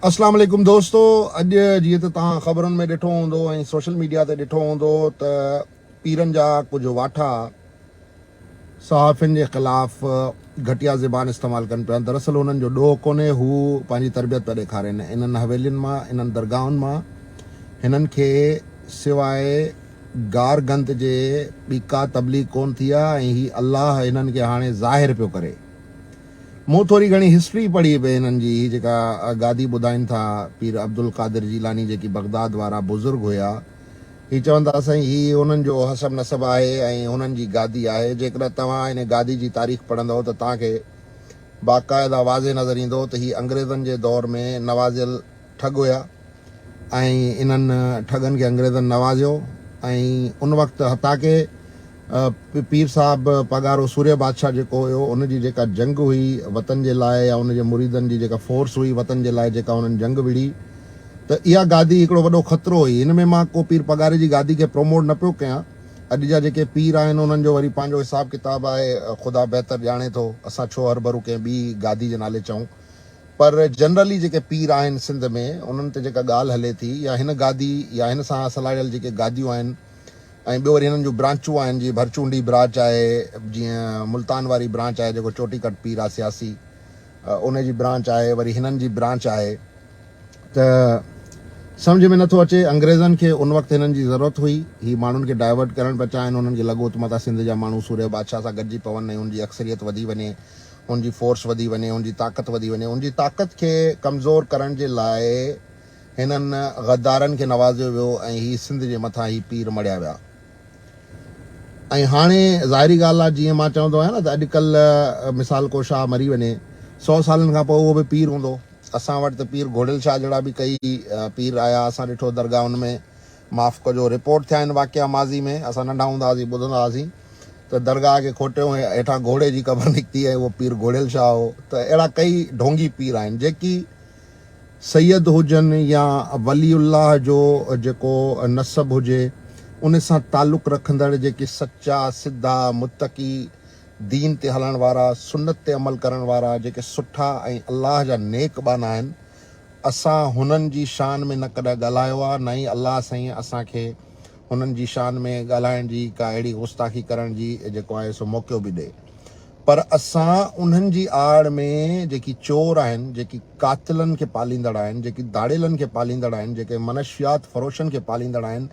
اسلام عليڪم دوستو اڄ جيئن ته توهان خبرن ۾ ڏٺو هوندو ۽ سوشل ميڊيا تي ڏٺو هوندو ته پيرن جا ڪجهه واٺا صحافين جي خلاف گهٽيا زبان استعمال ڪن پيا دراصل هنن جو ڏوهه ڪونهي هو پنهنجي تربيت پيا ڏيکارين انهن حويلين مان انهن درگاهن مان هنن کي سواء گار گند جي ٻي ڪا تبليغ ڪون ٿي آهي ۽ هي الله هنن کي هاڻي ظاهر پيو ڪري مون ٿوري گهڻي هسٽري پڙهي به هنن جي هي جيڪا گادي ٻڌائين ٿا پير عبدالقادر جيلاني جيڪي بغداد وارا بزرگ هيا هي چون ٿا سائين هي هنن جو حسب نسب آهي ۽ هنن جي گادي آهي جيڪڏهن توهان هن گادي جي تاريخ پڙهندؤ ته توهان کي باقاعده واضح نظر ايندو ته هي انگريزن جي دور ۾ نوازيل ٺڳ هيا ۽ انهن ٺڳن کي انگريزن نوازيو ۽ ان وقت حتيٰ ڪي پير صاحب پاڳارو سورهيه بادشاهه جيڪو هيو ان جي جيڪا جنگ هئي وطن جي لاء يا ان جي مريدن جي جيڪا فورس هئي وطن جي لاء جيڪا انهن جنگ وڙهي ته اها گادي هڪڙو وڏو خطرو هئي ان ۾ مان ڪو پير پاڳاري جي گادي کي پروموٽ نه پيو ڪيان اڄ جا جيڪي پير آهن انهن جو وري پنهنجو حساب ڪتاب آهي خدا بهتر ڄاڻي ٿو اسان ڇو هرڀرو ڪنهن ٻي گادي جي نالي چئون. پر جنرلي جيڪي پير آهن سنڌ ۾ انهن تي جيڪا ڳالهه هلي ٿي يا هن گادي يا هن سان اصل آڙيل جيڪي گاديون آهن ۽ ٻيو وري هنن جون برانچون آهن جيئن ڀرچونڊي براچ آهي جيئن ملتان واري برانچ آهي جيڪو چوٽي ڪٽ پير آهي سياسي ان جي برانچ آهي وري هنن جي برانچ آهي ته سمجهه ۾ نٿو اچي انگريزن کي ان وقت هنن جي ضرورت هئي هي ماڻهن کي ڊائيورٽ ڪرڻ پيا چاهن هنن کي لڳو ته متان سنڌ جا ماڻهو سورهيه بادشاهه سان گڏجي پون ۽ ان جي اڪثريت وڌي وڃي ان جي فورس وڌي وڃي، ان جي طاقت وڌي وڃي، ان جي طاقت کي ڪمزور ڪرڻ جي لاء هنن غدارن کي نوازيو ويو ۽ هي سنڌ جي مٿان هي پير مڙهيا ويا ۽ هاڻي ظاهري ڳالهه آ جيئن مان چوندو آهيان نه ته اڄ ڪلهه مثال ڪو شاهه مري وڃي سو سالن کان پوء اهو به پير هوندو اسان وٽ ته پير گهوڙيل شاهه جهڙا به ڪئي پير آيا اسان ڏٺو درگاهن ۾ معاف ڪجو رپورٽ ٿيا آهن واقعا ماضي ۾ اسان ننڍا هوندا هئاسين ٻڌندا هئاسين ته درگاهه کي کوٽيو ۽ هيٺان گهوڙي جي قبر نڪتي ۽ اهو پير گهوڙيل شاهه هو ته اهڙا ڪئي ڍونگي پير آهن جيڪي سيد هجن يا ولي الله جو جيڪو نسب هجي ان سان تعلق رکندڙ جيڪي سچا سڌا متقي دين تي هلڻ وارا سنت تي عمل ڪرڻ وارا جيڪي سٺا ۽ الله جا نيڪ ٻانها آهن اسان هنن جي شان ۾ نه ڪڏهن ڳالهايو آهي نه ئي الله سائين اسان کي هنن جي شان ۾ ڳالهائڻ جي ڪا اهڙي غستاخي ڪرڻ جي جيڪو آهي سو موقعو به ڏئي پر اسان انهن جي آڙ ۾ جيڪي چور آهن جيڪي قاتلن کي پاليندڙ آهن جيڪي ڌاڙيلن کي پاليندڙ آهن جيڪي منشيات فروشن کي پاليندڙ آهن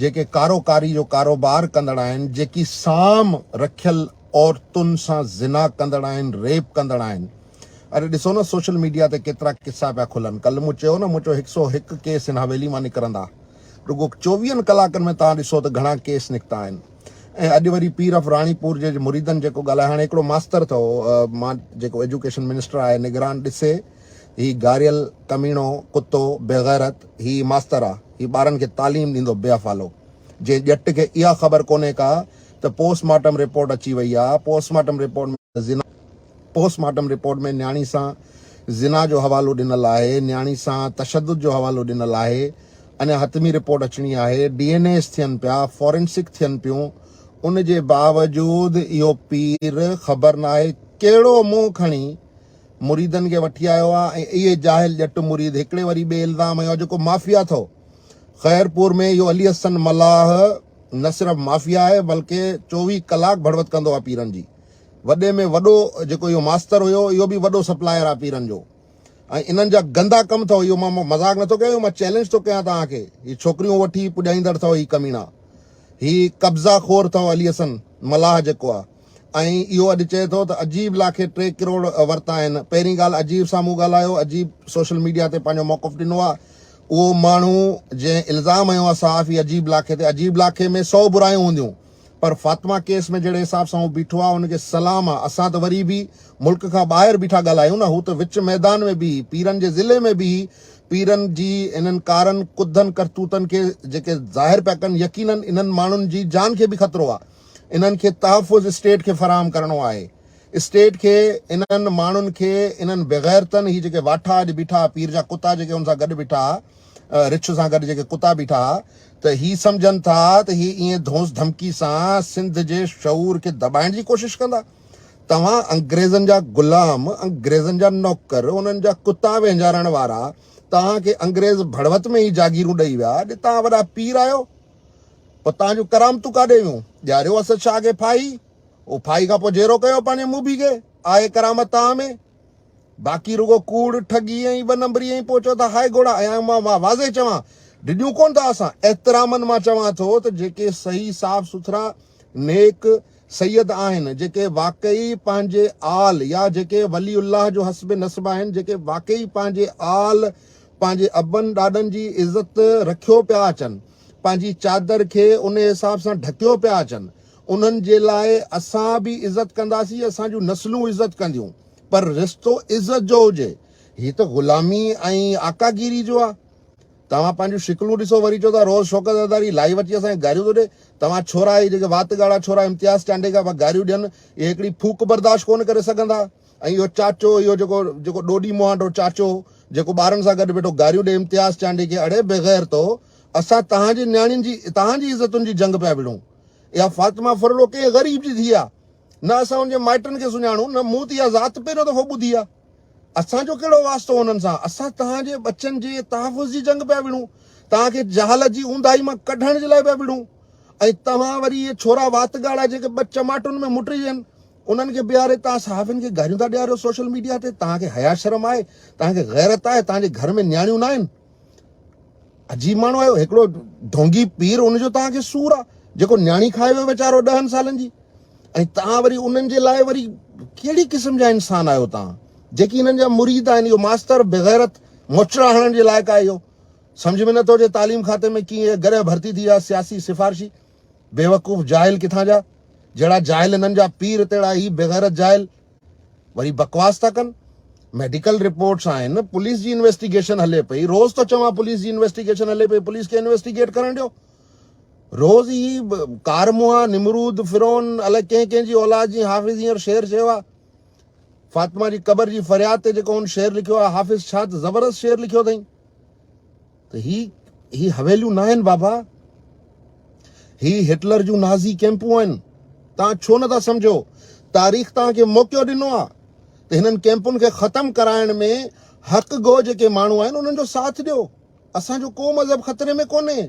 جيڪي ڪارو ڪاري جو ڪاروبار ڪندڙ آهن جيڪي سام رکيل عورتن سان زنا ڪندڙ آهن ريپ ڪندڙ آهن اڙي ڏسو نه سوشل ميڊيا تي ڪيترا قصا پيا کلن ڪلھ مون چيو نه مون چيو هڪ سؤ هڪ ڪيس هن حويلي مان نڪرندا رڳو چوويهن ڪلاڪن ۾ توهان ڏسو ته گهڻا ڪيس نڪتا آهن ۽ اڄ وري پير اف راڻي پور جي مريدن جيڪو ڳالهايو هاڻي هڪڙو ماستر اٿو مان جيڪو ايجوڪيشن منسٽر آهي نگران ڏسي هي گاريل ڪميڻو ڪتو بيغيرت هي ماستر آ هي ٻارن کي تعليم ڏيندو بي افعالو جي ڄٽ کي اها خبر ڪونهي ڪا ته پوسٽ مارٽم رپورٽ اچي وئي آ post mortem report ۾ post mortem report ۾ نياڻي سان زنا جو حوالو ڏنل آهي، نياڻي سان تشدد جو حوالو ڏنل آهي، اڃا حتمي رپورٽ اچڻي آهي، ڊي اين ايز ٿين پيا، فورنسڪ ٿين پيون، ان جي باوجود اهو پير خبر ناهي ڪهڙو منهن کڻي مريدن کي وٺي آيو آهي ۽ اهي جاهل ڄٽ مريد هڪڙي وري ٻئي الزام هنيو آهي جيڪو مافيا اٿئو خيرپور ۾ اهو علي حسن ملاح نه صرف مافيا آهي بلڪه چوويهه ڪلاڪ ڀڙوت ڪندو آهي پيرن جي وڏي ۾ وڏو جيڪو اهو ماستر هيو اهو به وڏو سپلاير آ پيرن جو ۽ انهن جا گندا ڪم اٿو اهو مان مذاق نٿو ڪيان اهو مان چئلينج ٿو ڪيان توهان کي هي ڇوڪريون وٺي پڄائيندڙ اٿو هي ڪمينا هي قبضا خور اٿو علي حسن ملاح جيڪو آ ۽ اهو اڄ چئي ٿو ته عجيب لا کي ٽي ڪروڙ ورتا آهن پهرين ڳالهه عجيب سان مون ڳالهايو عجيب سوشل ميڊيا تي پنهنجو موقف ڏنو آ اهو ماڻهو جنهن الزام هنيو آ صحافي عجيب لا کي تي عجيب لا کي ۾ سو برايون هونديون پر فاطمه ڪيس ۾ جهڙي حساب سان هو بيٺو آهي ان کي سلام آهي اسان ته وري به ملڪ کان ٻاهر بيٺا ڳالهايون نه هو ته وچ ميدان ۾ بيهي پيرن جي ضلعي ۾ بيهي پيرن جي انهن ڪارن ڪڌن ڪرتوتن کي جيڪي ظاهر پيا ڪن يقينا انهن ماڻهن جي جان کي به خطرو آهي انهن کي تحفظ اسٽيٽ کي فراهم ڪرڻو آهي اسٽيٽ کي انهن ماڻهن کي انهن بغيرتن هي جيڪي واٺا اڄ بيٺا پير جا ڪتا جيڪي ان سان گڏ بيٺا رڇ سان گڏ جيڪي ڪتا بيٺا ها ته هي سمجهن ٿا ته هي ائين ڌونس ڌمڪي سان سنڌ جي شعور کي دٻائڻ جي ڪوشش ڪندا. توهان انگريزن جا غلام، انگريزن جا نوڪر، انهن جا ڪتا وهنجارڻ وارا، توهان کي انگريز ڀڙوت ۾ ئي جاگيرون ڏئي ويا، اڄ توهان وڏا پير آهيو، پوء توهان جون ڪرامتون ڪاڏي ويون؟ ڏياريو اسد شاهه کي ڦاهي، او ڦاهي کان پوء جيرو ڪيو پنهنجي موڀي کي، آهي ڪرامت توهان ۾؟ باقي رڳو ڪوڙ، ٺڳي ۽ ٻه نمبريء ۽ پوء چئو ٿا هاء گهوڙا ايا مان اها واضح چوان، ڊڄون ڪونه ٿا اسان، احترامن مان چوان ٿو ته جيڪي صحيح صاف سٿرا نيڪ سيد آهن، جيڪي واقعي پنهنجي آل يا جيڪي ولي الله جو حسب نسب آهن، جيڪي واقعي پنهنجي آل پنهنجي ابن ڏاڏن جي عزت رکيو پيا اچن، پنهنجي چادر کي انهي حساب سان ڍڪيو پيا اچن، انهن جي لاء اسان به عزت ڪنداسين، اسان جون نسلون عزت ڪنديون، پر رشتو عزت جو هجي، هي ته غلامي ۽ آقا گيري جو آ. توهان پنهنجون شڪلون ڏسو وري چئو ٿا روز شوڪت زرداري لائيو اچي اسان کي گاريون ٿو ڏي، توهان ڇورا هي جيڪي وات ڳاڙها ڇورا امتياز چانڊيڪا پيا گاريون ڏين اهي هڪڙي ڦوڪ برداشت ڪونه ڪري سگهندا ۽ اهو چاچو اهو جيڪو جيڪو ڏوڏي مهانڊو چاچو جيڪو ٻارن سان گڏ ويٺو گاريون ڏي امتياز چانڊيڪي اڙي بيغيرتو اسان توهان جي نياڻين جي توهان جي عزتن جي جنگ پيا وڙهون. اها فاطمه ڦرلو ڪنهن غريب جي ڌيء آ. نه اسان ان جي مائٽن کي سڃاڻون نه مون ته اها ذات پهريون دفعو ٻڌي آ. اسان جو ڪهڙو واسطو انهن سان. اسان توهان جي ٻچن جي تحفظ جي جنگ پيا وڙهون. توهان کي جهالت جي اونداهي مان ڪڍڻ جي لاء پيا وڙهون. ۽ توهان وري اهي ڇورا وات ڳاڙها جيڪي ٻه چماٽن ۾ مٽجن انهن کي بيهاري توهان صحافين کي گاريون ٿا ڏياريو سوشل ميڊيا تي. توهان کي حيا شرم آهي؟ توهان کي غيرت آهي؟ توهان جي گهر ۾ نياڻيون ناهن؟ عجيب ماڻهو آهيو هڪڙو ڍونگي پير ان جو توهان کي سور آ جيڪو نياڻي کائي ويو ويچارو ڏهن سالن جي ۽ توهان وري انهن جي لاء وري ڪهڙي قسم جا انسان آهيو توهان جيڪي انهن جا مريد آهن اهو ماستر بغيرت موچڙا هڻڻ جي لائق آهي اهو سمجھ ۾ نٿو اچي تعليم کاتي ۾ ڪيئن هي گرهه ڀرتي ٿي ويا سياسي سفارشي بيوقوف جاهل ڪٿان جا جهڙا جاهل هنن جا پير تهڙا هي بغيرت جاهل وري بڪواس ٿا ڪن ميڊيڪل رپورٽس آهن پوليس جي انويسٽيگيشن هلي پئي روز ٿو چوان پوليس جي انويسٽيگيشن هلي پئي پوليس کي انويسٽيگيٽ ڪرڻ ڏيو روز هي ڪارموها نمرود فرعون الائي ڪنهن ڪنهن جي اولاد جي حافظ هينئر شعر چيو آهي فاطمه جي قبر جي فرياد تي جيڪو هن شعر لکيو آهي حافظ ڇا ته زبردست شعر لکيو اٿئي ته هي هي حويليون ناهن بابا هي هٽلر جون نازي ڪيمپون آهن توهان ڇو نٿا سمجهو تاريخ توهان کي موقعو ڏنو آهي ته هنن ڪيمپن کي ختم ڪرائڻ ۾ حق گو جيڪي ماڻهو آهن انهن جو ساٿ ڏيو اسان جو ڪو مذهب خطري ۾ ڪونهي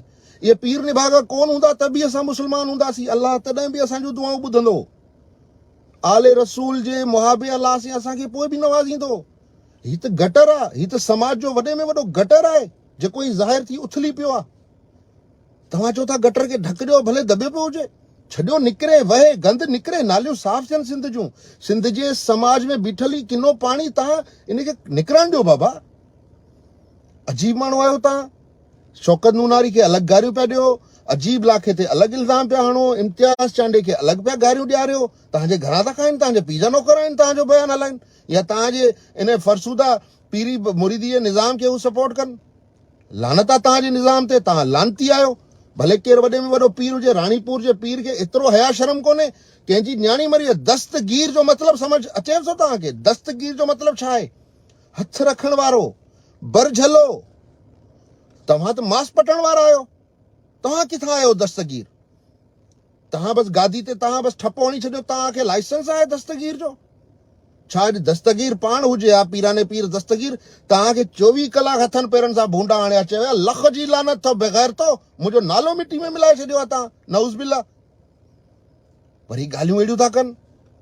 اهي پير نڀاڳا ڪون هوندا ته به اسان مسلمان هونداسين الله تڏهن به اسان جون دعائون ٻڌندو آل رسول جي محابي الله سين اسان کي پوء به نوازيندو هي ته گٽر آ هي ته سماج جو وڏي ۾ وڏو گٽر آهي جيڪو هي ظاهر ٿي اٿلي پيو آ توهان چو ٿا گٽر کي ڍڪ ڏيو ڀلي دٻيو پيو هجي ڇڏيو نڪري وهي گند نڪري ناليون صاف ٿين سنڌ جون سنڌ جي سماج ۾ بيٺل هي ڪنو پاڻي توهان ان کي نڪرڻ ڏيو بابا عجيب ماڻهو آهيو توهان شوڪت نوناري کي الڳ گاريون پيا ڏيو عجيب لاکي تي الڳ الزام پيا هڻو امتياز چانڊي کي الڳ پيا گاريون ڏياريو تانجي گھران ٿا کائن تانجي پيء جا نوڪر آهن تانجو بيان هلائن يا توهان جي ان فرسوده پيري مريديء نظام کي هو سپورٽ ڪن؟ لعنت آ توهان جي نظام تي توهان لعنتي آهيو ڀلي ڪير وڏي ۾ وڏو پير هجي راڻي پور جي پير کي ايترو حيا شرم ڪونهي ڪنهن جي نياڻي مري آهي دستگير جو مطلب سمجھ اچيو ٿو توهان کي دستگير جو مطلب ڇا آهي هٿ رکڻ وارو برجھلو توهان ته ماس پٽڻ وارا آهيو توهان ڪٿان آهيو دستگير تهان بس گادي تي تهان بس ٺپو هڻي ڇڏيو تهان کي لائسنس آهي دستگير جو ڇا اڄ دستگير پاڻ هجي يا پيراني پير دستگير تهان کي چوويهه ڪلاڪ هٿن پيرن سان ڀونڊا هڻي اچي ويا لخ جي لعنت اٿو بغيرتو منهنجو نالو مٽي ۾ ملائي ڇڏيو آهي تهان نعوذ بالله پر هي ڳالهيون اهڙيون ٿا ڪن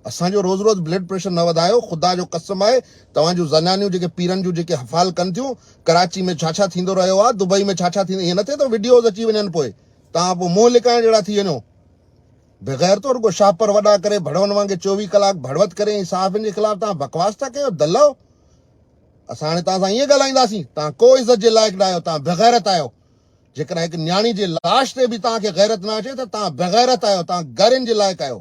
اسان جو روز روز بلڊ پريشر نه وڌايو خدا جو قسم آهي توهان جون زنانيون جيڪي پيرن جون جيڪي حفال ڪن ٿيون ڪراچي ۾ ڇا ڇا ٿيندو رهيو آهي دبئي ۾ ڇا ڇا ٿيندو ائين نه ٿئي ته وڊيوز اچي وڃن پوء توهان پوء منهن لڪائڻ جهڙا ٿي وڃو. بيغيرتو رڳو شاهپر وڏا ڪري ڀڙوئن وانگي چوويهه ڪلاڪ ڀڙوت ڪري ۽ صحافين جي خلاف توهان بڪواس ٿا ڪيو دلئو. اسان هاڻي توهان سان ائين ڳالهائينداسين. توهان ڪو عزت جي لائق نه آهيو. توهان بيغيرت آهيو. جيڪڏهن هڪ نياڻي جي لاش تي به توهان کي غيرت نه اچي ته توهان بيغيرت آهيو. توهان گارين جي لائق آهيو.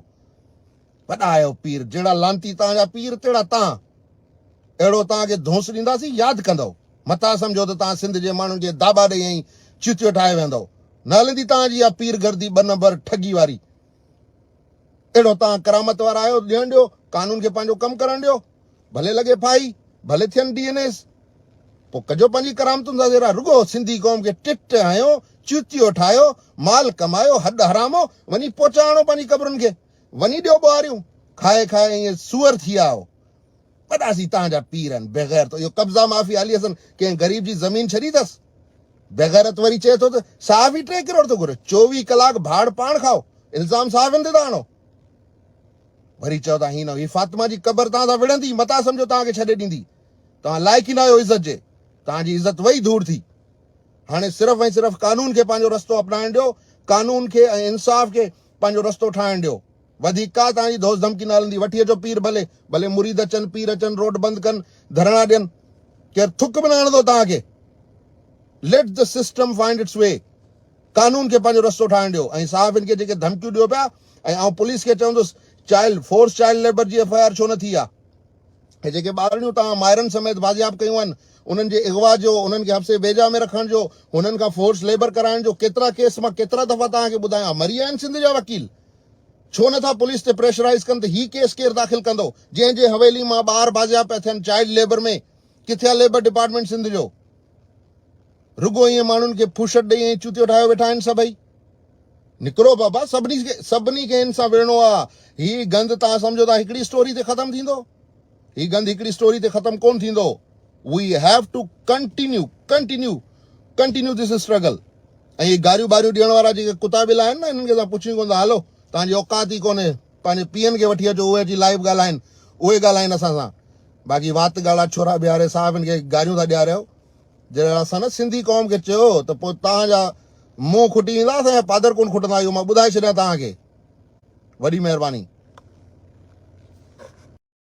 وڏا آهيو پير، جهڙا لعنتي توهان جا پير تهڙا تان. اهڙو توهان کي ڌونس ڏينداسين، ياد ڪندؤ. متان سمجهو ته توهان سنڌ جي ماڻهن کي داٻا ڏئي ائين چيتيو ٺاهي ويهندؤ. نه هلندي توهان جي اها پير گردي ٻه نمبر ٺڳي واري. اهڙو توهان ڪرامت وارا آهيو، ڏيڻ ڏيو، قانون کي پنهنجو ڪم ڪرڻ ڏيو. ڀلي لڳي ڦاهي، ڀلي ٿين ڊي اين ايز. پوء ڪجو پنهنجي ڪرامتن سان سيرا، رڳو سنڌي قوم کي ٽٽ هنيو، چيتيو ٺاهيو، مال ڪمايو، هڏ حرامو، وڃي پوچا هڻو پنهنجي قبرن کي. وڃي ڏيو ٻوهاريون کائي کائي ائين سوئر ٿي ويا آهيو وڏا سي تهان جا پير آهن بيغيرتو اهو قبضا مافيا علي حسن ڪنهن غريب جي زمين ڇڏي اٿس بيغيرت وري چئي ٿو ته صحافي ٽي ڪروڙ ٿو گهري چوويهه ڪلاڪ ڀاڙ پاڻ کائو الزام صحافين تي ٿا آڻو وري چئو ٿا هي نه هي فاطمه جي قبر تهان سان وڙهندي متان سمجهو تهان کي ڇڏي ڏيندي توهان لائق ئي نه آهيو عزت جي توهان جي عزت وئي ڌوڙ ٿي هاڻي صرف ۽ صرف قانون کي پنهنجو رستو اپنائڻ ڏيو قانون کي ۽ انصاف کي پنهنجو رستو ٺاهڻ ڏيو. وڌيڪ ڪا توهان جي ڌوس ڌمڪي نه هلندي. وٺي اچو پير ڀلي. ڀلي مريد اچن، پير اچن، روڊ بند ڪن، ڌرڻا ڏين. ڪير ٿڪ به نه هڻندو توهان کي. Let the system find its way. قانون کي پنهنجو رستو ٺاهڻ ڏيو. ۽ صحافين کي جيڪي ڌمڪيون ڏيو پيا ۽ آئون پوليس کي چوندس چائلڊ فورس چائلڊ ليبر جي ايف آء آر ڇو نه ٿي آ. ۽ جيڪي ٻارڙيون توهان مائرن سميت بازياب ڪيون آهن، انهن جي اغوا جو، انهن کي حبسي بيجا ۾ رکڻ جو، هنن کان فورس ليبر ڪرائڻ جو ڪيترا ڪيس مان ڪيترا دفعا توهان کي ٻڌايا آهن، مري آهن سنڌ جا وڪيل؟ ڇو نه ٿا پوليس تي پريشرائيز ڪن ته هي ڪيس ڪير داخل ڪندو، جنهن جي حويلي مان ٻار بازياب پيا ٿين چائلڊ ليبر ۾ ڪٿي آهي ليبر ڊپارٽمينٽ سنڌ جو؟ رڳو ائين ماڻهن کي ڦوشٽ ڏئي ائين چوتيو ٺاهيو ويٺا آهن سڀئي. نڪرو بابا سڀني کي سڀني کي هن سان وڙهڻو آ. هي گند توهان سمجهو ٿا هڪڙي اسٽوري تي ختم ٿيندو؟ هي گند هڪڙي اسٽوري تي ختم ڪونه ٿيندو. We have to continue continue continue this struggle ۽ هي گاريون ٻاريون ڏيڻ وارا جيڪي ڪتا ٻلا آهن نه هنن کي اسان پڇون ڪونه ٿا هلو توهان جي اوقات ئي ڪونهي. پنهنجي پيئن کي وٺي اچو اهي اچي لائيو ڳالهائين اهي ڳالهائين اسان سان باقي وات ڳاڙها ڇورا بيهاري صحافين کي گاريون ٿا ڏياريو جڏهن اسان نه سنڌي قوم کي چيو ته پوء توهان جا منهن کٽي ويندا اسان جا پادر ڪون کٽندا اهو مان ٻڌائي ڇڏيان توهان کي وڏي مهرباني